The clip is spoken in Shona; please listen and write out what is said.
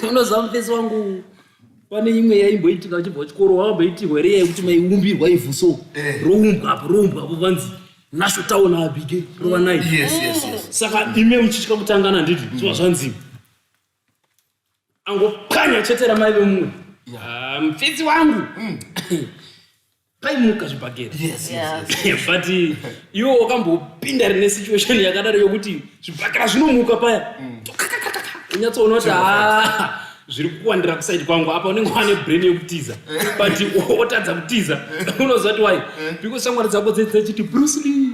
unoziva mufesi wangu pane imwe yaimboitika uchibva chikoro wakamboitirwa here yekuti maiumbirwa ivhu so eh. roumbwa apo roumbwa apo vanzi nasho town abige rovanai saka ime uchitya kutangana nditi zviva zvanzi angopwanya chete ramai vemumwe ah, mfidzi wangu mm. paimuka zvibhagera but uh, iwo wakambopinda rine situation yakadaro yokuti zvibhakera zvinomuka paya mm. unyatsoona kuti ah, zviri kuwandira kusaidi kwangu apa unenge wane brain yekutiza but wotadza kutiza unoziva ti wai eh. because shamwari dzako dzechiti brusli